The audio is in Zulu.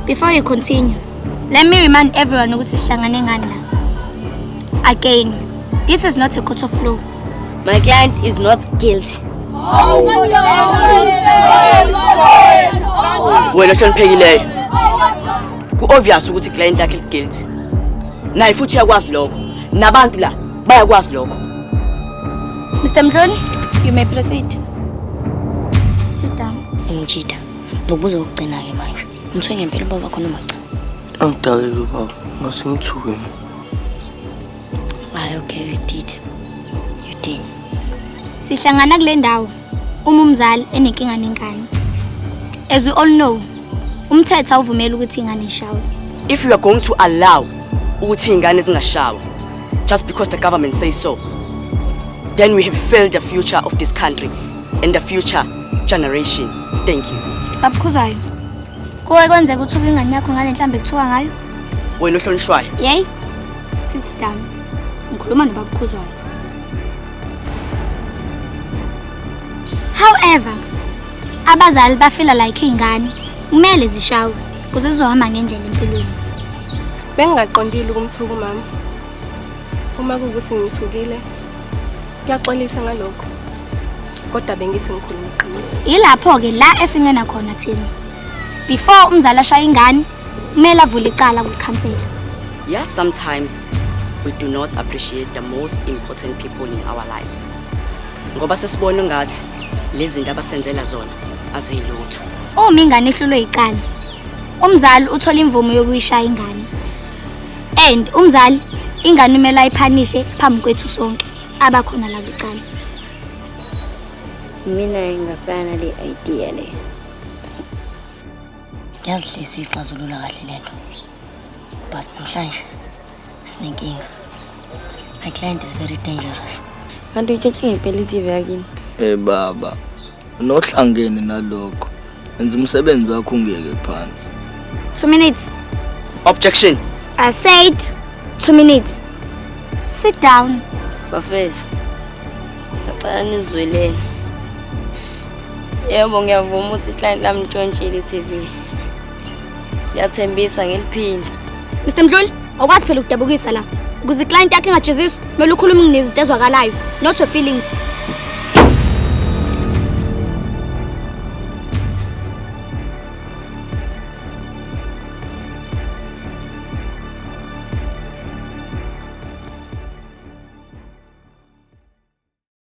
Before you continue, let me remind everyone ukuthi sihlangane ngani la. Again, this is not a court of law. My client is not guilty. Wena hloniphekileyo. Ku-obvious ukuthi client yakhe guilty. Naye futhi yakwazi lokho. nabantu la bayakwazi lokho Mr Mhloni you may proceed sit down ngijida ngobuzo ukugcina ke manje umthwe ngempela ubaba khona macha angidakile ubaba masingithuke mina hayi okay you did you did sihlangana kule ndawo Uma umzali enenkinga nengane, as we all know, umthetho awuvumeli ukuthi ingane ishawe. If you are going to allow ukuthi ingane zingashawa just because the government says so, then we have failed the future of this country and the future generation. Thank you. Babukhuzwayo. Kuwe kwenzeka ukuthi uke ingane yakho ngale nhlamba ekuthiwa ngayo? Wena ohlonishwayo. Yey. Sit down. Ngikhuluma nobabukhuzwayo. However, abazali bafila like iy'ngane kumele zishawe kuze zizohamba ngendlela empilweni. Bengingaqondile ukumthuka umama. Uma kuwukuthi ngimthukile, kuyaxolisa ngalokho. Kodwa bengithi ngikhuluma iqiniso. Yilapho-ke la esingena khona thina. Before umzali ashaya ingane, kumele avule icala kwikhansela yes sometimes we do not appreciate the most important people in our lives ngoba sesibona ngathi lezi zinto abasenzela zona aziyilutho uma ingane ehlulwe icala umzali uthola imvumo yokuyishaya ingane and umzali ingane umele ayiphanishe phambi kwethu sonke abakhona la kwicala mina ngingafana le idea le Yazi hle siyixazulula kahle le nto but namhlanje sinenkinga my client is very dangerous kanti uyitshintshe ngempela i-tv yakini Eh baba, unohlangene nalokho. Enza umsebenzi wakho ungeke phansi. Two minutes. Objection. I said two minutes. Sit down. Bafethu. Sacela nizweleni. Yebo ngiyavuma ukuthi client lami ntshontshile TV. Ngiyathembisa ngiliphinde. Mr Mdluli, awukwazi phela ukudabukisa la. Ukuze client yakhe ingajeziswa, kumele ukhulume ngezinto ezwakalayo, not your feelings.